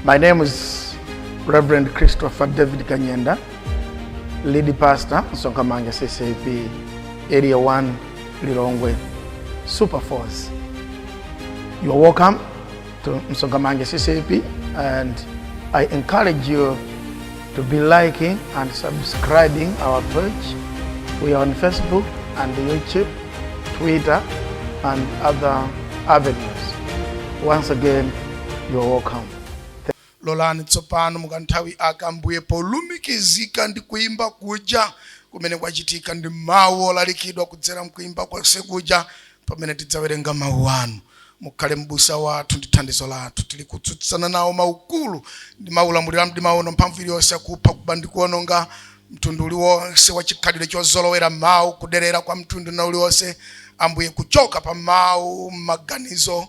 My name is Reverend Christopher David Kanyenda, lead pastor, Sonkamanga CCP, Area 1, Lilongwe, Super Force. You are welcome to Msongamange CCP and I encourage you to be liking and subscribing our page. We are on Facebook and YouTube, Twitter, and other avenues. Once again, you are welcome. lolani tsopano mukanthawi aka Ambuye polumikizika ndi kuimba kuja kumene kwachitika ndi mawu olalikidwa kudzera mkuimba konse kuja pamene tidzawerenga mawu anu Mukhale m'busa wathu ndi thandizo lathu. Tili kutsutsana nawo maukulu ndi maulamuliro a mdima uno, mphamvu iliyonse ya kupha, kuba, ndi kuwononga, mtundu uliwonse wa chikhalidwe chozolowera mawu, kuderera kwa mtundu wina uliwonse, Ambuye, kuchoka pa mawu m'maganizo,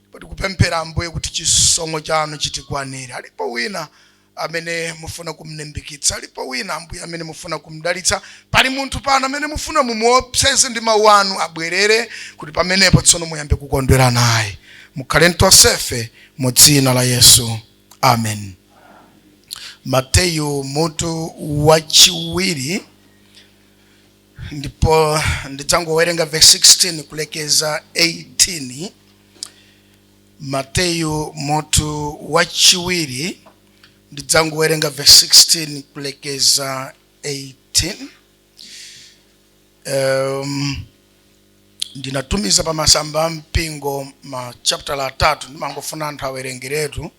ndipo tikupemphera, Ambuye, kuti chisomo Chanu chitikwanire. Alipo wina amene mufuna kumlimbikitsa? Alipo wina, Ambuye, amene mufuna kumdalitsa? Pali munthu pano amene mufuna mumuopseze ndi mawu anu abwerere, kuti pamenepo tsono muyambe kukondwera naye? Mukhale ntonsefe mu dzina la Yesu, amen. Mateyu mutu wachiwiri ndipo ndidzangowerenga verse 16 kulekeza 18. Mateyu mutu wachiwiri ndidzangowerenga verse 16 kulekeza 18 um, ndinatumiza pa masamba a mpingo ma chapter atatu ndimangofuna anthu awerengeretu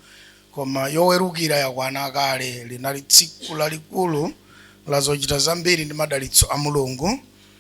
koma yowerukira yakwana kale linali tsiku lalikulu la zochita zambiri ndi madalitso a mulungu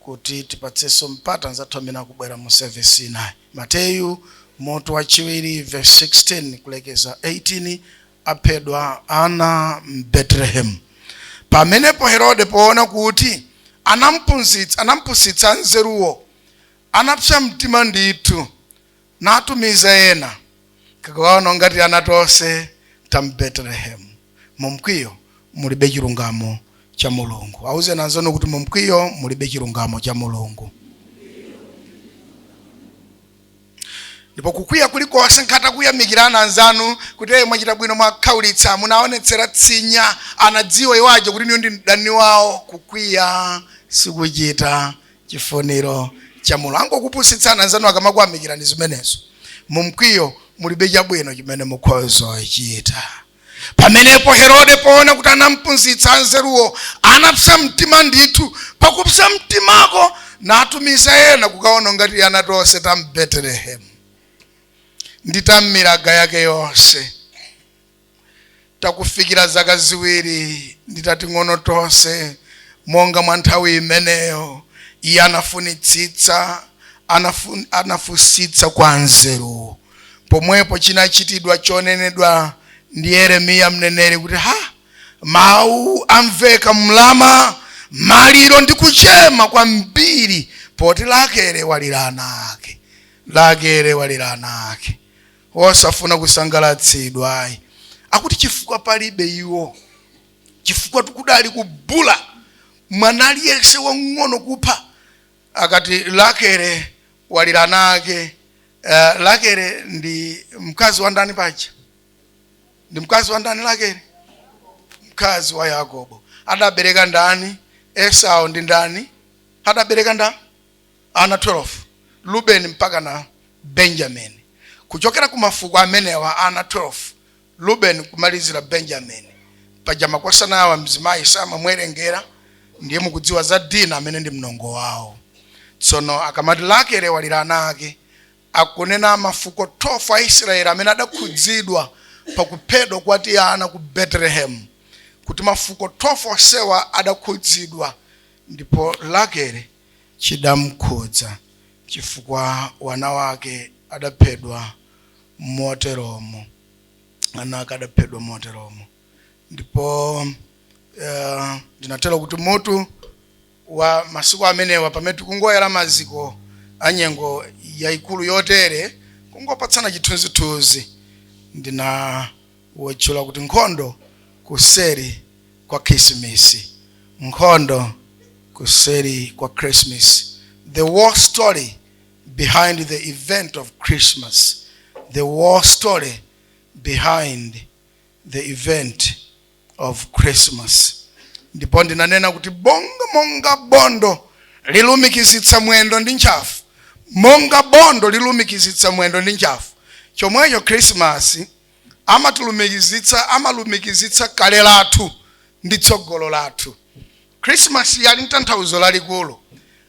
kuti tipatsenso mpata anzathu amene akubwera mu service inayi. Mateyu, mutu wachiwiri, vesi 16 kulekeza 18, Aphedwa ana m'Betelehemu. Pamenepo Herode, poona kuti anampunsi- anampusitsa anzeruwo, anapsa mtima ndithu, natumiza ena kukaononga tiana tonse ta mbetelehemu mu mkwiyo mulibe chilungamo cha mulungu auzeni anzanu kuti mu mkwiyo mulibe chilungamo cha mulungu ndipo kukwiya kulikonse ngakhale atakuyamikirani anzanu kuti eye mwachita bwino mwakhaulitsa munaonetsera tsinya anadziwa iwo aja kuti inuyo ndi mdani wawo kukwiya sikuchita chifuniro cha mulungu angokupusitsani anzanu akamakuyamikirani zimenezo mu mkwiyo mulibe chabwino chimene mukhoza kuchita pamenepo herode poona kuti anampusitsa anzeruwo anapsa mtima ndithu pakupsa mtimako natumiza ena kukaononga tiana tonse ta m'betelehemu ndi ta m'miraga yake yonse takufikira zaka ziwiri ndi tating'ono tonse monga mwa nthawi imeneyo iye anafunitsitsa anafun, anafunsitsa kwa anzeruwo pomwepo chinachitidwa chonenedwa ndi yeremiya mneneri kuti ha mawu amveka m'rama maliro ndi kuchema kwambiri poti rakele walira ana ake rakele walira ana ake wosafuna kusangalatsidwa ayi akuti chifukwa palibe iwo chifukwatu kudali kubula mwana aliyense wang'ono kupha akati rakele walira ana ake uh, rakele ndi mkazi wa ndani paja ndi mkazi wa ndani rakele mkazi wa yakobo adabereka ndani esau ndi ndani adabereka ndani ana 12 rubeni mpaka na benjamini kuchokera ku mafuko amenewa ana 12 rubeni kumalizira benjamini paja makosana awa mzimayi samamwerengera ndiye mukudziwa za dina amene ndi mnongo wawo tsono akamati rakele walira ana ake akunena mafuko 12 a israeli amene adakhudzidwa pakuphedwa kwa tiana ku betelehemu kuti mafuko 12 onsewa adakhudzidwa ndipo rakele chidamkhudza chifukwa wana wake adaphedwa moteromo, ana ake adaphedwa moteromo. Ndipo eh, ndinatero kuti mutu wa masiku amenewa pamene tikungoyala maziko a nyengo yayikulu yotere kungopatsana chithunzithunzi ndina wutchula kuti Nkhondo Kuseri kwa Khisimisi, Nkhondo Kuseri kwa Krisimisi, The War Story Behind the Event of Christmas, The War Story Behind the Event of Christmas. Ndipo ndinanena kuti bonga monga bondo lilumikizitsa mwendo ndi ntchafu, monga bondo lilumikizitsa mwendo ndi ntchafu, chomwecho Krisimasi amatilumikizitsa amalumikizitsa kale lathu ndi tsogolo lathu khrisimasi ali n'tanthauzo lalikulu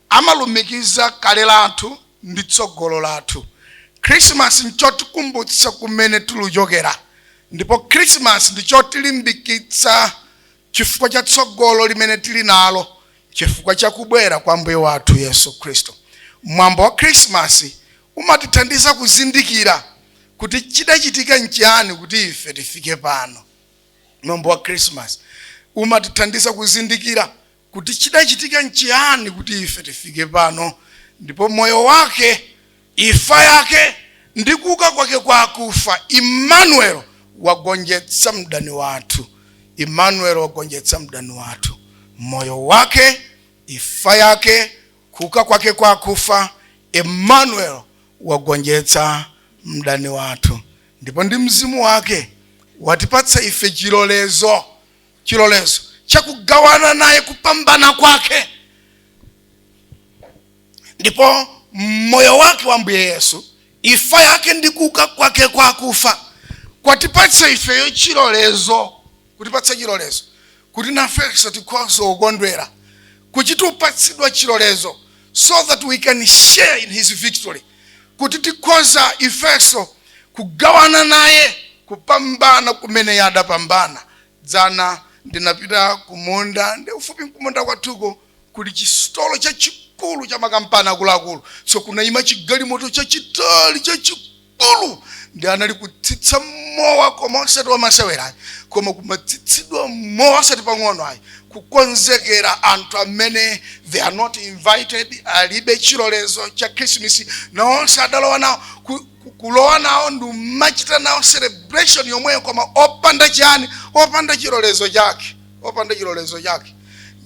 amalumikiza kale lathu ndi tsogolo lathu khrisimasi nchotikumbutsa kumene tiluchokera ndipo khrisimasi ndichotilimbikitsa chifukwa cha tsogolo limene tili nalo chifukwa cha kubwera kwa Ambuye wathu Yesu Khristu. Mwambo wa Khirisimasi umatithandiza kuzindikira kuti chidachitika n'chiyani kuti ife tifike pano. Mwambo wa Khirisimasi umatithandiza kuzindikira kuti chidachitika n'chiyani kuti ife tifike pano ndipo moyo wake Ifa yake ndi kuuka kwake kwa akufa, Emmanuel wagonjetsa mdani wathu. Emmanuel wagonjetsa mdani wathu. Moyo wake, ifa yake, kuuka kwake kwa akufa, Emmanuel wagonjetsa mdani wathu. Ndipo ndi mzimu wake watipatsa ife chilolezo, chilolezo chakugawana naye kupambana kwake. ndipo moyo wake wa mbuye yesu ifa yake ndi kuuka kwake kwa akufa kwatipatsa ifeyo chilolezo kutipatsa chilolezo kuti nafenso tikhoza kukondwera kuchita upatsidwa chilolezo so that we can share in his victory kuti tikhoza ifenso kugawana naye kupambana kumene iye adapambana dzana ndinapita kumunda ndi ufupi kumunda kwathuko kuli chisitolo chachikulu cha makampani akuluakulu so kunaima chigalimoto chachitali chachikulu ndi anali kutsitsa mowa koma osati wamasewera ayi koma kumatsitsidwa mowa osati pang'ono ayi kukonzekera anthu amene they are not invited alibe chilolezo cha Christmas nawonso adalowa nawo ku- ku- kulowa nawo ndi umachita nawo celebration yomweyo koma opanda chani opanda chilolezo chake opanda chilolezo chake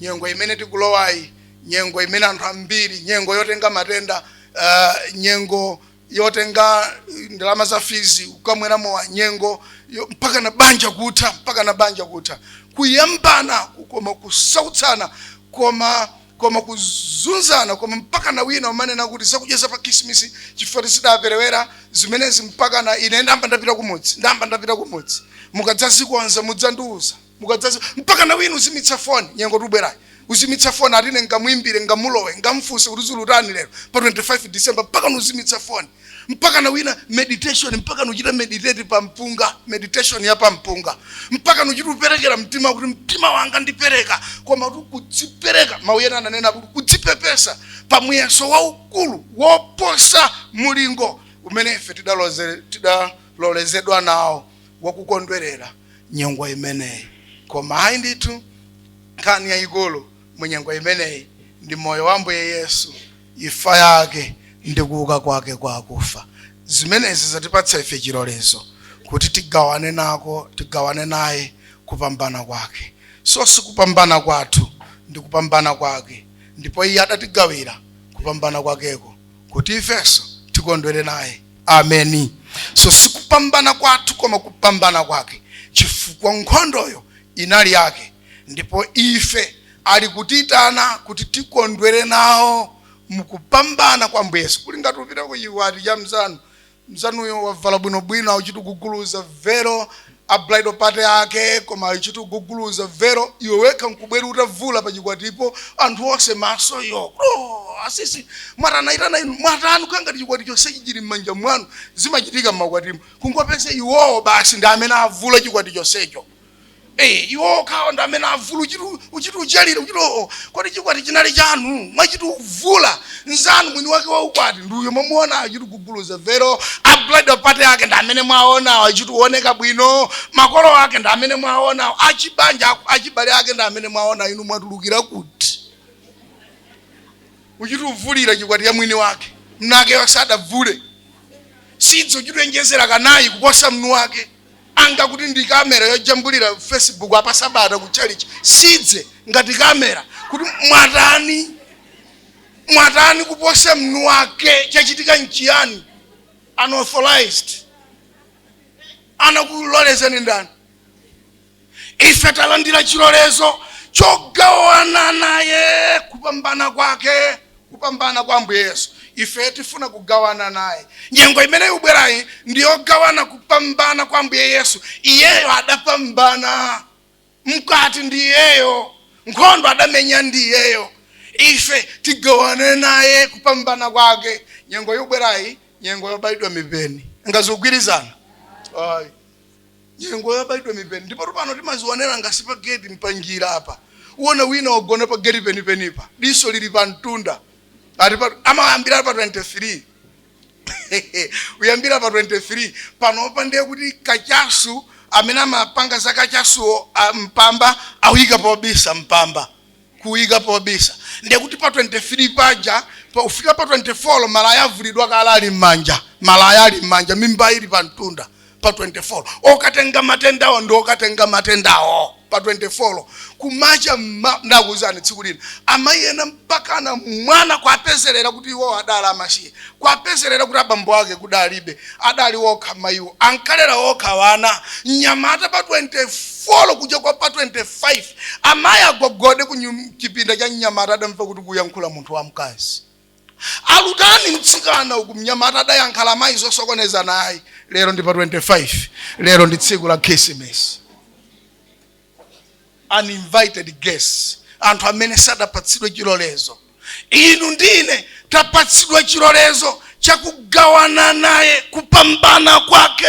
nyengo imene tikulowayi nyengo imene anthu ambiri nyengo yotenga matenda uh, nyengo yotenga ndalama za fees ukamwera mowa nyengo yo- mpaka na banja kutha mpaka na banja kutha kuyambana koma kusautsana koma koma kuzunzana koma mpaka na wina umanena kuti zakudya za pa Christmas chifukwa choti zidaperewera zimenezi mpaka na ine ndamba ndapita kumudzi ndamba ndapita kumudzi mukadzazikonza mudzandiuza mukadzazi mpaka na wina uzimitsa foni nyengo ikubwerayi uzimitsa foni ati ine ngamuimbire ngamulowe ngamfunse kuti zulutani lero pa 25 december mpaka nuzimitsa foni mpaka na wina meditation mpaka nuchita meditate pa mpunga meditation ya pa mpunga mpaka nuchita uperekera mtima kuti mtima wanga ndipereka koma kuti kudzipereka mawu ena ananena kuti kudzipepesa pa muyeso waukulu woposa mulingo umene ife tidalozere- tidalolezedwa nawo wakukondwerera nyengo imeneyi koma ayi ndithu nkhani yayikulu mu nyengo imeneyi ndi moyo wa mbuye yesu ifa yake ndi kuuka kwake kwa akufa zimenezi zatipatsa ife chilolezo kuti tigawane nako tigawane naye kupambana kwake so sikupambana kwathu ndi kupambana kwake ndipo iye adatigawira kupambana kwakeko kuti ifenso tikondwere naye ameni so sikupambana kwathu koma kupambana kwake chifukwa nkhondoyo inali yake ndipo ife ali kutiitana kuti tikondwere nawo mukupambana kwa mbuye yesu kuli ngati upita ku chikwati cha mzanu mzanuyo wavala bwinobwino auchitu uguguluza vero a bridal party ake koma uchitu uguguluza vero iwe wekha nkubwera utavula pa chikwatipo anthu onse maso yo bro asisi mwatanaitana inu mwatani kukhala ngati chikwati chonsechi chili m'manja mwanu zimachitika m'makwatimo kungopeza iwowo basi ndi amene avula chikwati chonsecho Eh, iwo kawo ndi amene avula uchitu uchitu uchalira uchitu oo kodi chikwati chinali chanu mwachitu uvula nzanu mwini wake wa ukwati ndi uyo mwamuona achitu uguguluza vero a bridal party ake ndi amene mwaonawo achitu uoneka bwino makolo ake ndi amene mwaonawo achibanja aku- achibale ake ndi amene mwaona inu mwatulukira kuti uchitu uvulira chikwati ya mwini wake mnu wake sadavule sidzi uchitu wonjezera kanayi kuposa mnu wake anga kuti ndi kamera yojambulira facebook apa sabata ku chalichi sidze ngati kamera kuti mwatani Mwatani kuposa mnuwake? Chachitika nchiyani? Unauthorized. Anakulolezani ndani? Ife talandira chilolezo chogawana naye kupambana kwake, kupambana kwa Ambuye Yesu. Ife tifuna kugawana naye. Nyengo imene ikubwerayi ndi yogawana kupambana kwa Ambuye Yesu. Iyeyo adapambana. mkwati ndi iyeyo nkhondo adamenya ndi iyeyo ife tigawane naye kupambana kwake nyengo yobwerayi nyengo yobayidwa mipeni nanga zikugwirizana ayi nyengo yobayidwa mipeni ndipo pano timazionera ngati pa geti mpanjira apa uona wina wagona pa geti penipenipa diso lili pa mtunda ati pa- amayambira pa 23 kuyambira pa 23 panopa ndiye kuti kachasu amene amapanga za kachasuwo mpamba awika pobisa mpamba kuwika pobisa ndiye kuti pa 23 paja pa ufika pa 24 malaya avulidwa kale ali m'manja malaya ali m'manja mimba ili pa mtunda pa 24 okatenga matendawo ndi okatenga matendawo pa 24 kumacha mma- ndakuuzani tsiku lina amayi ena mpakana mwana kwapezerera kuti iwo adali amasiye kwapezerera kuti abambo ake kudalibe adali okha mayiwo ankalera okha wana mnyamata pa 24 kucha kwa pa 25 amayi agogode ku nyum- chipinda cha mnyamata adamva kuti kuyankhula munthu wamkazi alutani mtsikana uku mnyamata adayankhula mayi zosokoneza naye lero ndi pa 25 lero ndi tsiku la khisimisi uninvited guests anthu amene sadapatsidwe chilolezo inu ndine tapatsidwa chilolezo chakugawana naye kupambana kwake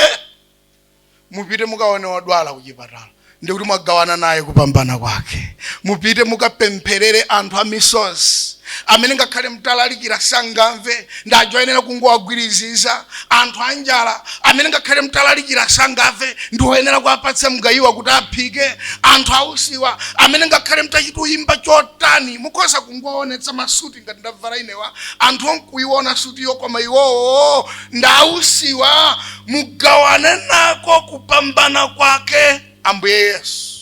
mupite mukaone odwala kuchipatala ndikuti mwagawana naye kupambana kwake mupite mukapempherere anthu amisozi amene ngakhale mtalalikira sangamve ndi aja oyenera kungowagwiriziza anthu anjala amene ngakhale mtalalikira sangamve ndi oyenera kuwapatsa mgayiwa kuti aphike anthu ausiwa amene ngakhale mtachita kuyimba chotani mukhoza kungowaonetsa masuti suti ngati ndavala inewa anthu nkuiona suti yokoma iwowo ndausiwa mugawane nako kupambana kwake ambuye yesu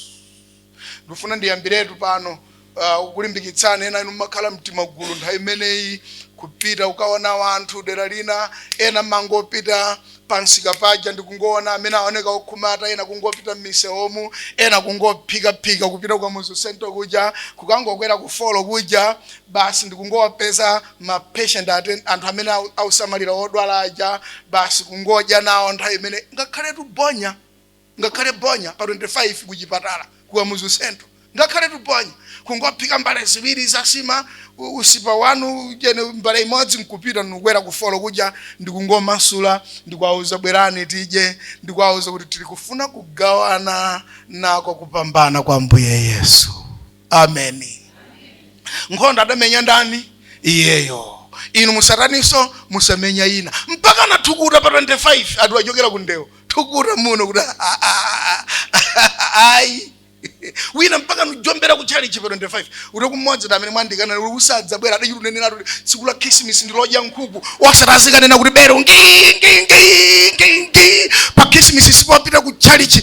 ndifuna ndiyambiretu pano uh, kukulimbikitsani ena inu mumakhala m'timagulu nthawi imeneyi kupita kukaona anthu dera lina ena mumangopita pamsika paja ndikungowona amene aoneka okhumata ena kungopita mmisewomu ena kungophikaphika kupita ku kamuzu central kuja kukangokwera ku floor kuja basi ndikungowapeza ma patient ate anthu amene au- ausamalira odwala aja basi kungodya nawo nthawi imeneyi ngakhale tubonya ngakhale bonya pa 25 ku chipatala ku kamuzu central ngakhale tubonya kungophika mbale ziwiri za nsima u- usipa wanu jene mbale imodzi nkupita nkukwera ku floor kuja ndikungomasula ndikuwauza bwerani tidye ndikuwauza kuti tili kufuna kugawana nako kupambana kwa ambuye yesu ameni nkhondo adamenya ndani iyeyo inu musataninso musamenye ina mpaka nathukuta pa 25 ati achokera ku ndewo thukuta muno kuti "Ah, ah, ah, ah, ayi wina mpaka nkujombera ku chalichi pa 25 kuti kumodzi ta amene mwandikana uli usadzabwera adachita kunena kuti tsiku la khrisimisi ndilodya nkhuku osati azikanena kuti bero ngi ngi ngi ngi ngi pa khrisimisi sitipita ku chalichi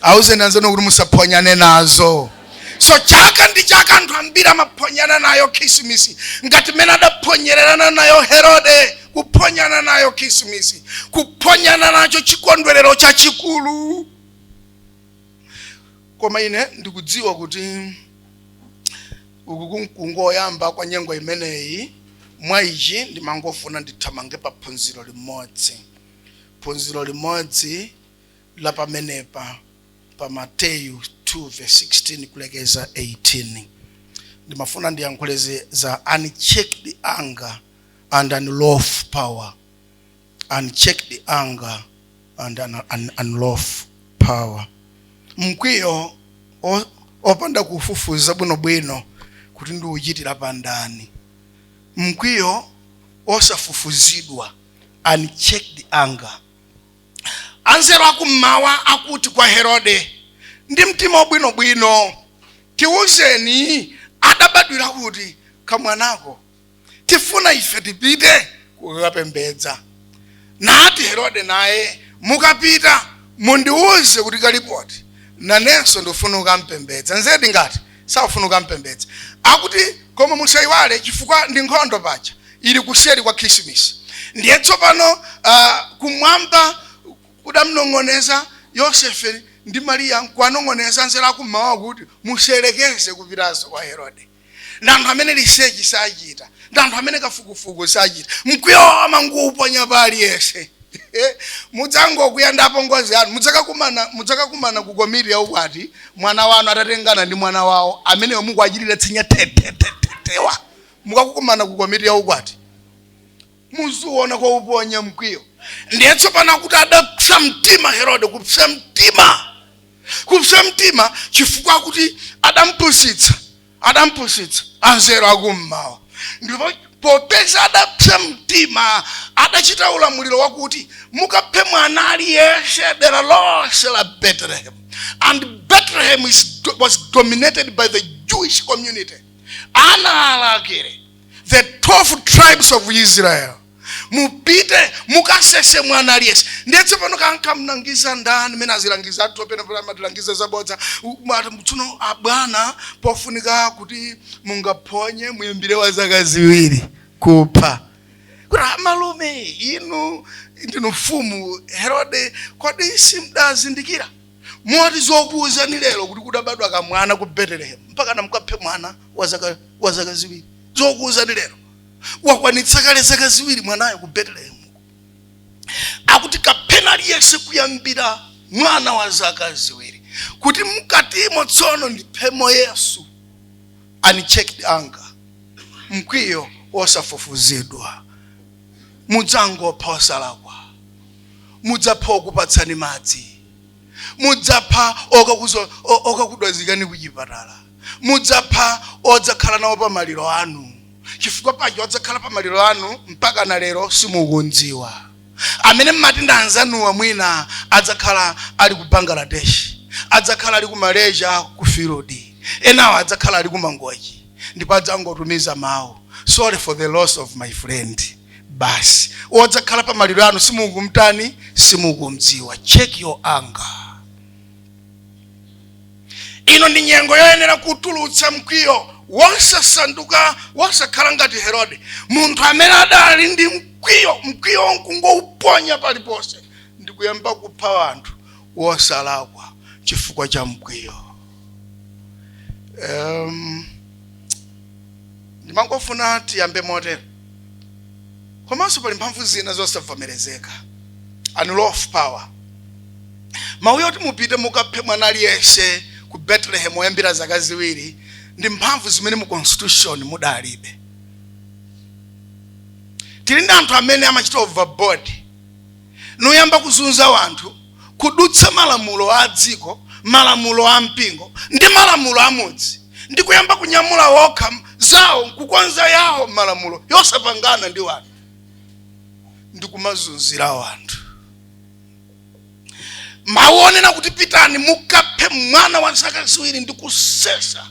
awuzeni anzanu kuti musaphonyane nazo so chaka ndi chaka anthu ambiri amaphonyana nayo khisimisi ngati mmene adaphonyererana nayo herode kuphonyana nayo khisimisi kuphonyana nacho chikondwerero chachikulu koma ine ndikudziwa kuti uku nkungoyamba kwa nyengo imeneyi mwa ichi ndimangofuna ndithamange pa phunziro limodzi phunziro limodzi la pamenepa pa Mateyu 2 verse 16 kulekeza 18 ndimafuna ndiyankhule zi- za unchecked anger and unlawful power unchecked anger and un, un, unlawful power mkwiyo o- opanda kufufuza bwinobwino kuti ndiuchitira pandani mkwiyo osafufuzidwa unchecked anger Anzeru akum'mawa akuti kwa Herode ndi mtima wabwinobwino, Tiwuzeni adabadwira kuti kamwanako, tifuna ife tipite kukapembedza. Nati Herode naye, Mukapita, mundiwuze kuti kali poti, nanenso ndifuna kukampembedza. Nzedi ngati? Sakufuna kukampembedza akuti koma musaiwale chifukwa ndi nkhondo paja ili kuseri kwa khrisimasi ndiye tsopano uh, kumwamba kudamnong'oneza Yosefe ndi Mariya nkuwanong'oneza anzeru akum'mawa kuti musayerekeze kupitanso kwa Herode ndi anthu amene research sachita ndi anthu amene kafukufuku sachita mkwiyo amangouponya pa aliyense mudzangokwiya ndi apongozi anu mudz- mudzakakumana ku komiti ya ukwati mwana wanu atatengana ndi mwana wawo ameneyo mukuwachitira tsinya tetetetetewa mukakumana ku komiti ya ukwati muziona kwa uponya mkwiyo ndiye tsopano akuti adapsa mtima herode kupsa mtima kupsa mtima chifukwa kuti adampusitsa adampusitsa anzeru akum'mawa, ndipo popeza adapsa mtima, adachita ulamuliro wakuti, Mukaphe mwana aliyense dera lonse la Betelehemu. And Bethlehem is, was dominated by the Jewish community. Ana a Rakele, the 12 tribes of Israel. mupite mukasese mwana aliyense ndiye tsopano kaya ankamlangiza ndani mene azilangizi athu pena pena amatilangiza zabodza amati tsono abwana pofunika kuti mungaphonye muyambire wa zaka ziwiri kupha kuti amalume inu ndinu mfumu herode kodi simdazindikira moti zokuwuzani lero kuti kudabadwa kamwana ku betelehemu mpakana mukaphe mwana wa zaka- wa zaka ziwiri zokuwuzani lero wakwanitsa kale zaka ziwiri mwanayo ku betelehemu akuti kapheni aliyense kuyambira mwana wa zaka ziwiri kuti mkatimo tsono ndiphemo yesu unchecked anger mkwiyo wosafufuzidwa mudzangopha osalakwa mudzapha okupatsani madzi mudzapha okakudwazikani kuchipatala mudzapha odzakhala nawo pa maliro anu chifukwa paja odzakhala pa maliro anu mpaka na lero simukundziwa amene mmati ndi anzanuwa mwina adzakhala ali ku bangladesh adzakhala ali ku malaysia ku field enawo adzakhala ali ku mangochi ndipo adzangotumiza mawu sorry for the loss of my friend basi odzakhala pa maliro anu simukumtani simukumdziwa check your anger ino ndi nyengo yoyenera kutulutsa mkwiyo wosasanduka wosakhala ngati herode munthu amene adali ndi mkwiyo mkwiyo nkungouponya paliponse ndi kuyamba kupha anthu wosalakwa chifukwa cha mkwiyo um, ndimangofuna tiyambe motero komanso pali mphamvu zina zosavomerezeka unlawful power mawu yoti mupite mukaphe mwana aliyense ku betelehemu oyambira zaka ziwiri ndi mphamvu zimene mu constitution mudalibe tili ndi anthu amene amachita overboard nuyamba kuzunza wanthu kudutsa malamulo a dziko malamulo a mpingo ndi malamulo a mudzi ndi kuyamba kunyamula wokha zawo nkukonza yawo malamulo yosapangana ndi wanthu ndi kumazunzira wanthu mawu onena kuti pitani mukaphe mwana wa zaka ziwiri ndi kusesa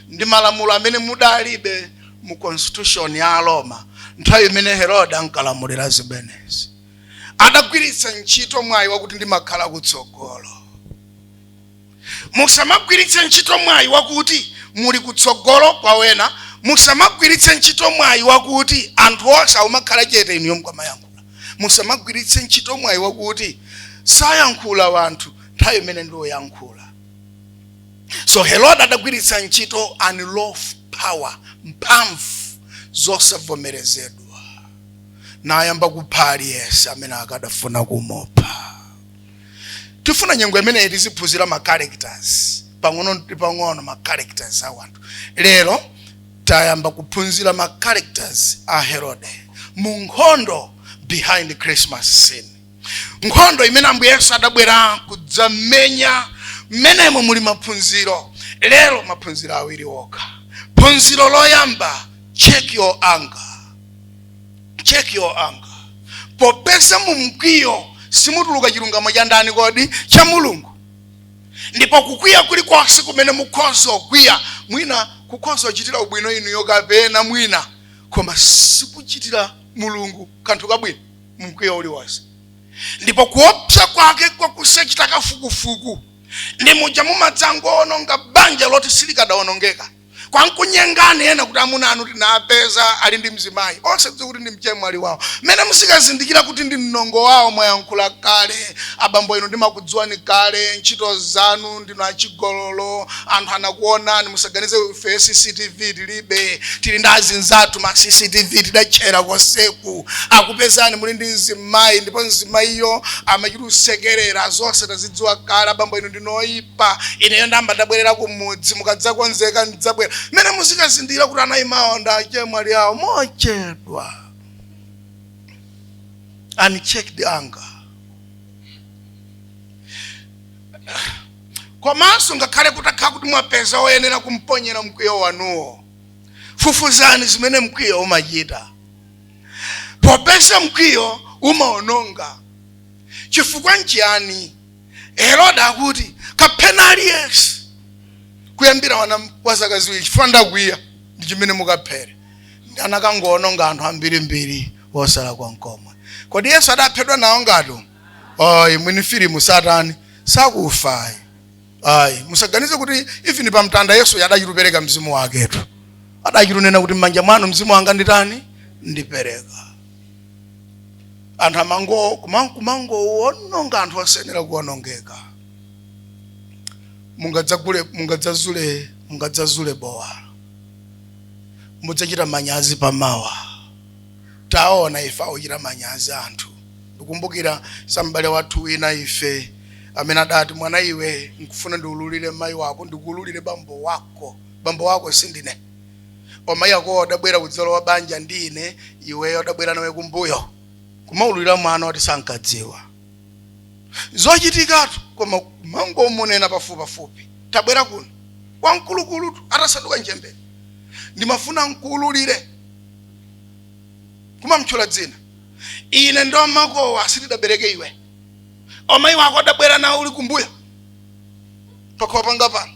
ndi malamulo amene mudalibe mu constitution ya aroma nthawi imene herode ankalamulira zimenezi adagwiritsa ntchito mwayi wakuti ndimakhala kutsogolo musamagwiritse ntchito mwayi wakuti muli kutsogolo kwa wena musamagwiritse ntchito mwayi wakuti anthu onse amakhala chete inuyo mukamayankhula musamagwiritse ntchito mwayi wakuti sayankhula wanthu nthawi imene ndi woyankhula so herode adagwiritsa ntchito unlawful power mphamvu zosavomerezedwa nayamba kupha aliyense amene akadafuna kumupha tifuna nyengo imeneyi tiziphunzira ma characters pang'ono ndi pang'ono ma characters a wanthu lero tayamba kuphunzira ma characters a herode mu nkhondo behind christmas scene nkhondo imene ambuye yesu adabwera kudzamenya mmenemo muli maphunziro lero maphunziro awiri okha phunziro loyamba check your anger check your anger popeza mu mkwiyo simutuluka chilungamo cha ndani kodi cha mulungu ndipo kukwiya kulikonse kumene mukhoza kukwiya mwina kukhoza kuchitira ubwino inuyo kapena mwina koma sikuchitira mulungu kanthu kabwino mkwiyo uliwonse ndipo kuopsa kwake kwa kusachita kafukufuku ndi muja mumadzangoononga banja loti silikadaonongeka kwankunyengani ena kuti amuna anu tinapeza ali ndi mzimayi osadziwa kuti ndi mchemwali wawo mmene musikazindikira kuti ndi mnongo wawo mwayankhula kale abambo inu ndimakudziwani kale ntchito zanu ndinu achigololo anthu anakuonani musaganize ife cctv tilibe tili ndi azinzathu ma cctv tidatchera konseku akupezani muli ndi mzimayi ndipo mzimayiyo amachita kusekerera zonse tazidziwa kale abambo inu ndinu oyipa ineyo ndayamba ndabwerera kumudzi mukadzakonzeka ndidzabwera mmene muzikazindikira kuti anayimawo ndi achemwali awo mochedwa unchecked anger komanso ngakhale kutakhala kuti mwapeza oyenera kumponyera mkwiyo wanuwo fufuzani zimene mkwiyo umachita popeza mkwiyo umaononga chifukwa nchiyani herode akuti kapheni aliyense kuyambira ana wa zaka ziwiri chifukwa ndakwiya ndi chimene mukaphere anakangoononga anthu ambirimbiri osalakwa nkomwe kodi yesu adaphedwa nawo ngati ayi mwini filimu satani sakufa ayi ayi musaganize kuti even pa mtanda yesu adachita kupereka mzimu waketu adachita kunena kuti m'manja mwanu mzimu wanga nditani ndipereka anthu amango kumangowononga anthu osayenera kuwonongeka mungadzazule bowa mudzachita manyazi pamawa taona ife akuchita manyazi anthu ndikumbukira za m'bale wathu wina ife amene adati mwana iwe nkufuna ndiululire mayi wako ndikuululire bambo wako bambo wako sindine omayi akowo adabwera kudzalowa banja ndi ine iweyo adabwera nawe kumbuyo kumaululira mwana woti sankadziwa zochitikatu kumangomunena pafupipafupi tabwera kuno wamkulukulutu atasanduka nchembere ndimafuna nkuululire kumamtchula dzina ine ndi omakowa sitidabereke iwe amayi wako adabwera nawe uli kumbuyo pakhomo panga pano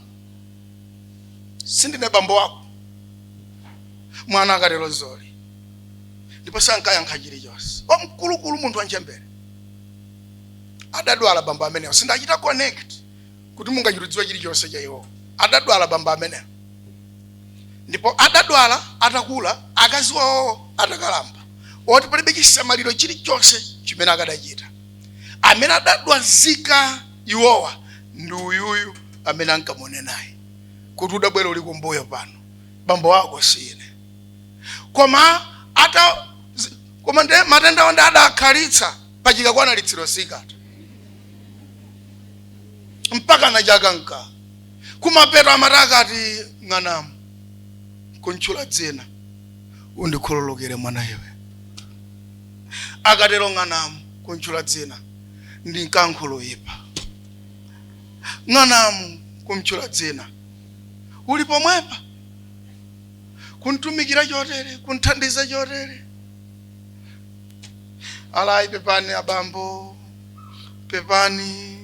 sindine bambo wako mwana akatero zoli ndipo sankayankha chilichonse wamkulukulu munthu wanchembere adadwala bambo amenewo sindachita connect kuti mungachirudziwe chilichonse cha iwo adadwala bambo ameneyo ndipo adadwala atakula akazi wawo atakalamba oti palibe chisamaliro chilichonse chimene akadachita amene adadwazika iwowa ndi uyuyu amene ankamone naye kuti udabwera uli kumbuyo pano bambo wako sine koma ata zi- koma nde matenda onde adakhalitsa pachika kwanalitsiro sikata mpaka nachakanka kumapeto amati akati ng'anamu kuntchula dzina undikhululukire mwana iwe akatero ng'anamu kuntchula dzina ndi nkankhuluyipa ng'anamu kumtchula dzina uli pomwepa kuntumikira chotere kunthandiza chotere ali ayi pepani abambo pepani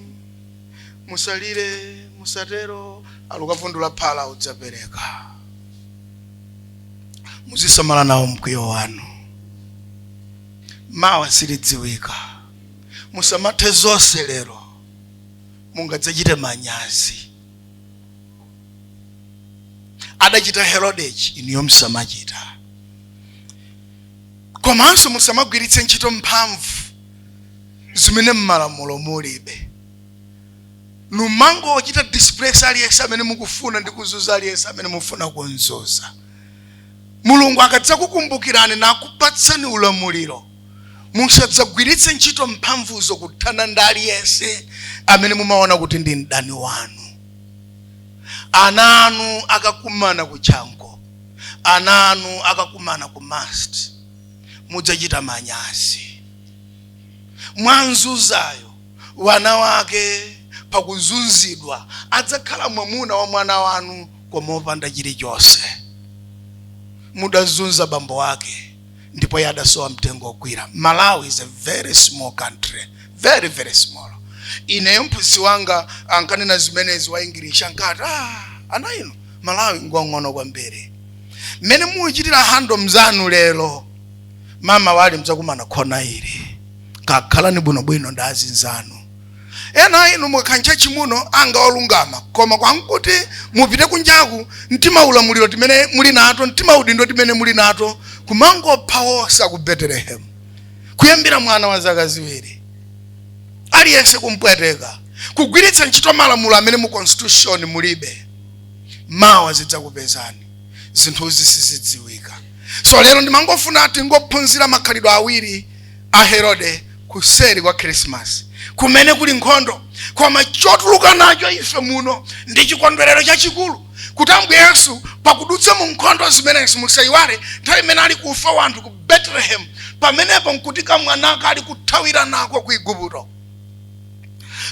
musalire musatero ali ukavundula phala udzapereka muzisamala nawo mkwiyo wanu mawa silidziwika musamathe zonse lero mungadzachite manyazi adachita herodechi inuyo musamachita komanso musamagwiritse ntchito mphamvu zimene mmalamulo mulibe numangowachita displace aliyense amene mukufuna ndi kuzuza aliyense amene mufuna kunzuza mulungu akadzakukumbukirani nakupatsani ulamuliro musadzagwiritse ntchito mphamvuzo kuthana ndi aliyense amene mumaona kuti ndi mdani wanu ana anu akakumana ku chanco ana anu akakumana ku must mudzachita manyazi mwanzunzayo mwana wake pakuzunzidwa adzakhala mwamuna wa mwana wanu koma opanda chilichonse mudazunza bambo wake ndipo iye adasowa mtengo wogwira malawi is a very small country very very small ineyo mphunzitsi wanga ankanena zimenezi wa english ankati ana inu malawi ngwang'ono kwambiri mmene muchitira handle mzanu lero mamawali mudzakumana khona ili kakhalani bwinobwino ndi azinzanu ena a inu mukakhala ntchatchi muno anga olungama koma kwankuti mupite kunjaku mtimaulamuliro timene muli nato mtimaudindo timene muli nato kumangopha onse aku betelehemu kuyambira mwana wa zaka ziwiri aliyense kumpweteka kugwiritsa ntchito malamulo amene mu constitution mulibe mawa zidzakupezani zinthuzi sizidziwika so lero ndimangofuna tingophunzira makhalidwe awiri a herode kuseri kwa khrisimasi kumene kuli nkhondo koma chotuluka nacho ife muno ndi chikondwerero chachikulu kuti ambuye yesu pakudutsa mu nkhondo zimenezi musayiwale nthawi imene ali kufa wanthu ku betelehemu pamenepo nkuti kamwanaka ali kuthawira nako ku igupto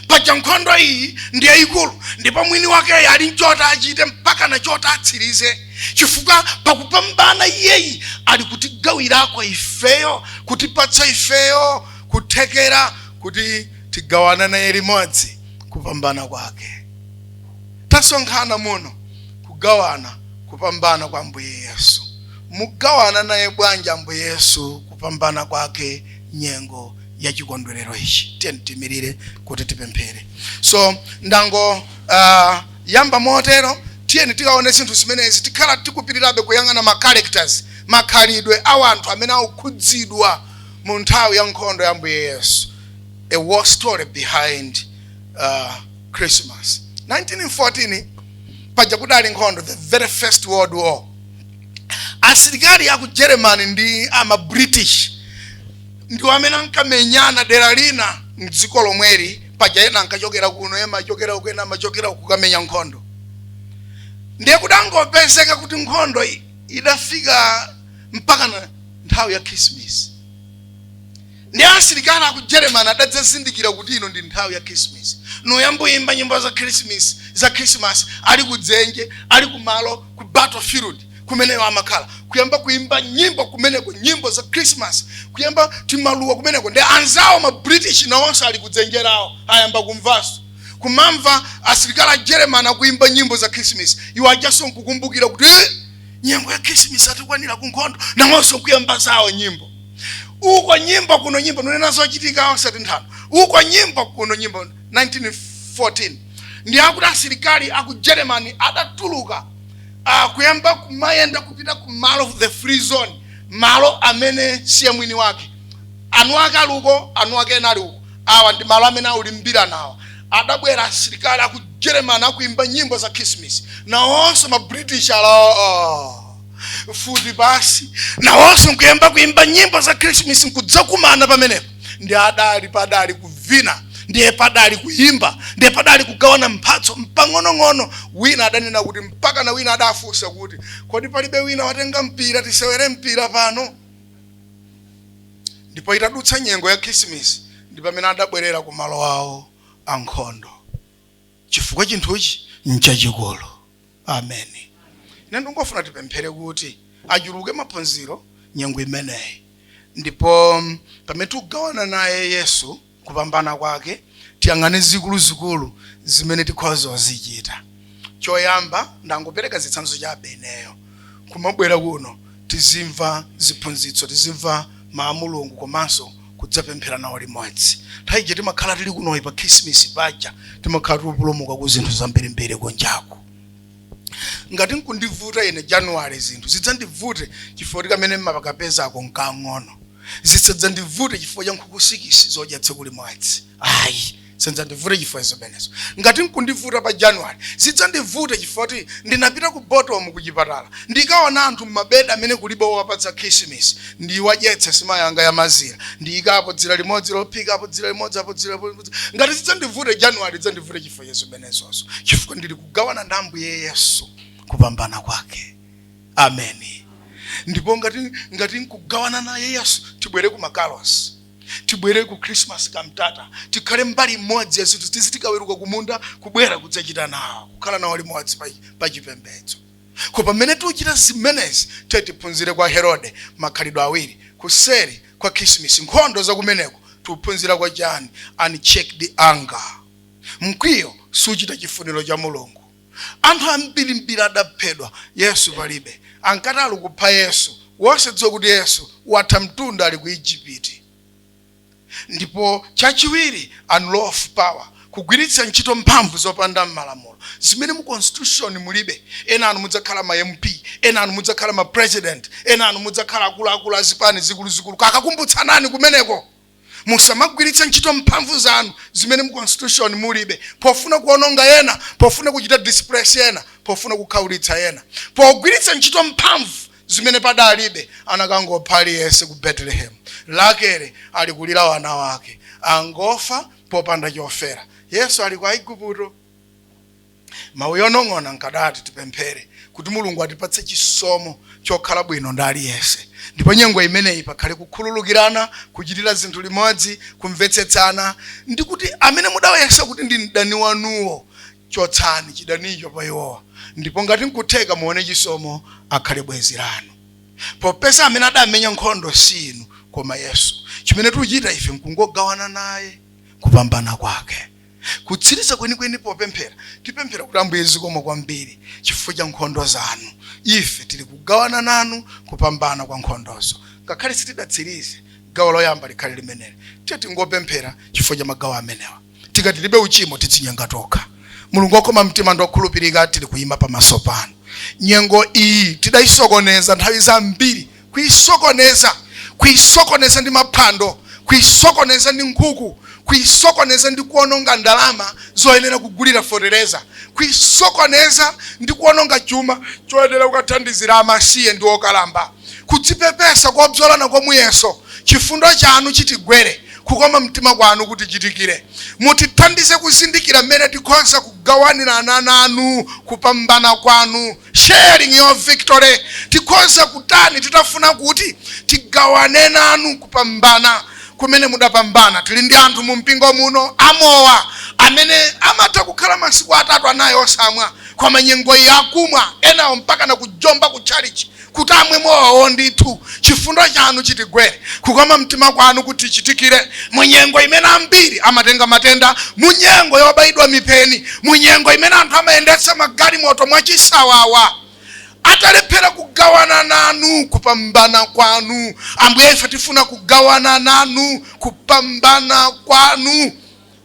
paja nkhondo iyi ndi yayikulu ndipo mwini wakeyi ali nchota achite mpaka na chota atsirize chifukwa pakupambana iyeyi ali kutigawirako ifeyo kutipatsa ifeyo kuthekera kuti tigawana naye limodzi kupambana kwake tasonkhana muno kugawana kupambana kwa ambuye yesu mugawana naye bwanji ambuye yesu kupambana kwake nyengo ya chikondwerero ichi tiyeni tiimirire kuti tipemphere so ndango uh, yamba motero tiyeni tikaone zinthu zimenezi tikhala tikupitirabe kuyang'ana ma characters makhalidwe a wanthu amene akukhudzidwa mu nthawi ya nkhondo ya ambuye yesu a war story behind uh, christmas 1914 paja kudali nkhondo the very first world war asilikali aku germany ndi ama british ndiwo amene ankamenyana dera lina mdziko lomweli paja ena ankachokera kuno ena amachokera uku ena amachokera uku kukamenya nkhondo ndiye kudangopezeka kuti nkhondo i- idafika mpaka na nthawi ya khrisimisi ndiye asilikali aku germany adadzazindikira kuti ino ndi nthawi ya khrisimisi noyamboyimba nyimbo za khrisimisi za khrisimasi ali kudzenje ali kumalo ku battlefield kumene iwo amakhala kuyamba kuimba nyimbo kumeneko nyimbo za christmas kuyamba timaluwa kumeneko ndi anzawo ma british nawonso ali kudzenje lawo ayamba kumvanso kumamva asilikali a german akuimba nyimbo za christmas iwo ajanso nkukumbukira kuti "Eh, nyengo ya christmas yatikwanira ku nkhondo nawonso nkuyamba zawo nyimbo uko nyimbo kuno nyimbo nonena zochitika osati nthano uko nyimbo kuno nyimbo 1914 ndiye akuti asilikali aku germany adatuluka kuyamba kumayenda kupita ku malo the free zone malo amene siye mwini wake anu ake ali uko anu ake ena ali uko awa ndi malo amene aulimbirana awa adabwera asilikali aku germany akuimba nyimbo za christmas nawonso ma british ala mfuti pansi nawonso nkuyamba kuimba nyimbo za christmas nkudzakumana pamenepo ndiye adali padali kuvina ndiye padali kuyimba ndiye padali kugawana mphatso mpang'onong'ono wina adanena kuti mpaka na wina adafunsa kuti kodi palibe wina watenga mpira tisewere mpira pano ndipo itadutsa nyengo ya khrisimisi ndi pamene adabwerera ku malo awo ankhondo chifukwa chinthuchi nchachikulu amen ine ndingofuna tipemphere kuti achuluke maphunziro nyengo imeneyi ndipo mm, pamene tikugawana naye yesu kupambana kwake tiyang'ane zikuluzikulu zimene tikhoza kuzichita choyamba ndangopereka zitsanzo chabe ineyo kumabwera kuno tizimva ziphunzitso, tizimva mau a Mulungu komanso kudzapemphera nawo limodzi. Nthawi ija timakhala tili kunoyi pa khisimisi paja timakhala tikupulumuka ku zinthu zambirimbiri kunjaku. Ngati nkundivuta ine January zinthu zidzandivute chifukwa tikamene mmakapezako nkang'ono. Zisadzandivute chifukwa cha nkhuku sikisi zodya tsiku limodzi. Ayi. zisadzandivute chifukwa zimenezo ngati nkundivuta pa january zidzandivute chifukwa kuti ndinapita ku botomu ku chipatala ndikaone anthu mmabedi amene kulibe owapatsa khishimisi ndiwadyetse sima yanga ya mazira ndiyikepo dzira limodzi lophika apo dzira limodzi apo dzira limodzi ngati zidzandivute january zidzandivute chifukwa cha zimenezozo chifukwa ndili kugawana ndi ambuye yesu kupambana kwake ameni ndipo ngati ngati nkugawana naye yesu tibwere ku makalosi tibwere ku christmas cantata tikhale mbali imodzi ya zinthu tiziti tikaweruka kumunda kubwera kudzachita nawo kukhala nawo limodzi pa- pa chipembedzo ko pamene tikuchita zimenezi tiye tiphunzire kwa herode makhalidwe awiri kuseri kwa khrisimisi nkhondo zakumeneko tikuphunzira kwa chani unchecked anger mkwiyo suchita chifuniro cha mulungu anthu ambirimbiri adaphedwa yesu palibe ankati ali kupha yesu wosadziwa kuti yesu watha mtunda ali ku ijipiti ndipo chachiwiri unlawful power kugwiritsa ntchito mphamvu zopanda m'malamulo zimene mu constitution mulibe ena anu mudzakhala ma mp ena anu mudzakhala ma president ena anu mudzakhala akuluakulu azipani zikuluzikulu kakakumbutsanani kumeneko musamagwiritse ntchito mphamvu zanu zimene mu constitution mulibe pofuna kuononga ena pofuna kuchita displace ena pofuna kukhaulitsa ena pogwiritsa ntchito mphamvu zimene padalibe anakangopha aliyense ku betelehemu rakele ali kulira wana wake angofa popanda chofera yesu ali ku aigupto mawu onong'ona nkadati tipemphere kuti mulungu atipatse chisomo chokhala bwino ndi aliyense ndipo nyengo imeneyi pakhale kukhululukirana kuchitira zinthu limodzi kumvetsetsana ndi kuti amene mudawayesa kuti ndi mdani wanuwo chotsani chidanicho pa iwowa ndipo ngati nkutheka muone chisomo akhale bwenzi lanu popeza amene adamenya nkhondo si inu koma yesu chimene tikuchita ife nkungogawana naye kupambana kwake kutsiriza kwenikweni popemphera tipemphera kuti ambuye zikomo kwambiri chifukwa cha nkhondo zanu ife tili kugawana nanu kupambana kwa nkhondozo ngakhale sitidatsirize gawo loyamba likhale limeneli tiye tingopemphera chifukwa cha magawo amenewa tikati tilibe uchimo tidzinyenga tokha mulungu wokoma mtima ndi okhulupirika tili kuyima pamaso panu nyengo iyi tidayisokoneza nthawi zambiri kuisokoneza, kuisokoneza ndi maphwando, kuisokoneza ndi nkhuku, kuisokoneza ndi kuononga ndalama zoyenera kugulira fotereza, kuisokoneza ndi kuononga chuma choyenera kukathandizira amasiye ndi okalamba, kudzipepesa kobzola nako muyeso, chifundo chanu chitigwere, kukoma mtima kwanu kutichitikire, mutithandize kuzindikira mmene tikhoza kugawanirana nanu kupambana kwanu Sharing your victory. Tikhoza kutani titafuna kuti tigawane nanu kupambana kumene mudapambana. Tili ndi anthu mu mpingo muno amowa amene amatha kukhala masiku atatu anayi osamwa koma nyengo iyi akumwa enawo mpaka na kujomba ku chalichi kuti amwe mowawo ndithu Chifundo chanu chitigwere, kukoma mtima kwanu kutichitikire, mu nyengo imene ambiri amatenga matenda, mu nyengo yobayidwa mipeni, mu nyengo imene anthu amayendetsa magalimoto mwachisawawa, atalephera kugawana nanu kupambana kwanu. Ambuye, ife tifuna kugawana nanu kupambana kwanu.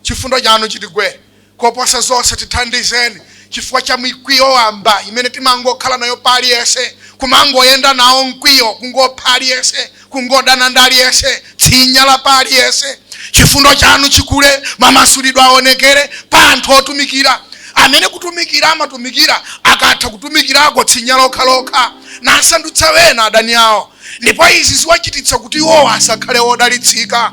Chifundo chanu chitigwere, Koposa zonse, tithandizeni chifukwa cha mikwiyo wamba imene timangokhala nayo pa aliyense, kumangoyenda nawo mkwiyo, kungopha aliyense, kungodana ndi aliyense, tsinya la pa aliyense. Chifundo chanu chikule, mamasulidwe awonekere pa anthu otumikira, amene kutumikira amatumikira, akatha kutumikirako tsinya lokha lokha, nasandutsa wena adani awo, ndipo izi ziwachititsa kuti iwo asakhale odalitsika.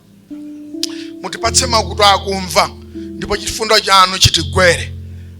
mutipatse makutu akumva ndipo chifundo chanu chitigwere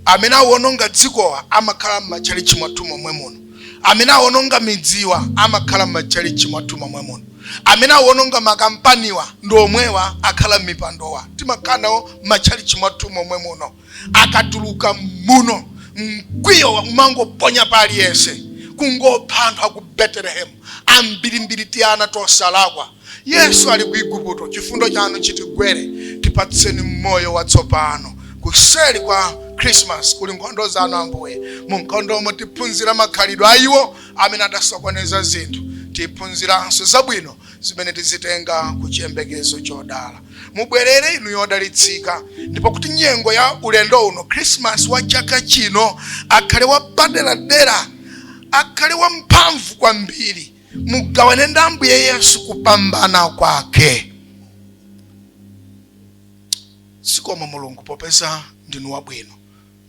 amene awononga dzikowa amakhala m'matchalitchi mwathu momwe muno amene awononga midziwa amakhala m'matchalitchi mwathu momwe muno amene awononga makampaniwa ndi omwewa akhala m'mipandowa timakhala nawo m'matchalitchi mwathu momwe muno akatuluka muno mkwiyo umangoponya pa aliyense kungopha anthu aku betelehemu ambirimbiri tiana tosalakwa yesu ali ku igupto chifundo chanu chitigwere tipatseni moyo watsopano kuseri kwa krismas kuli nkhondo zanu ambuye mu nkhondomo tiphunzira makhalidwe a iwo amene adasokoneza zinthu tiphunziranso zabwino zimene tizitenga ku chiyembekezo chodala mubwerere inu yodalitsika ndipo kuti nyengo ya ulendo uno khrisimasi wa chaka chino akhale wapaderadera akhale wamphamvu kwambiri mugawane ndi ambuye yesu kupambana kwake zikomo mulungu popeza ndinu wabwino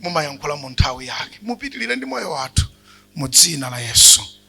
mumayankhula mu nthawi yake mupitirire ndi moyo wathu mu dzina la yesu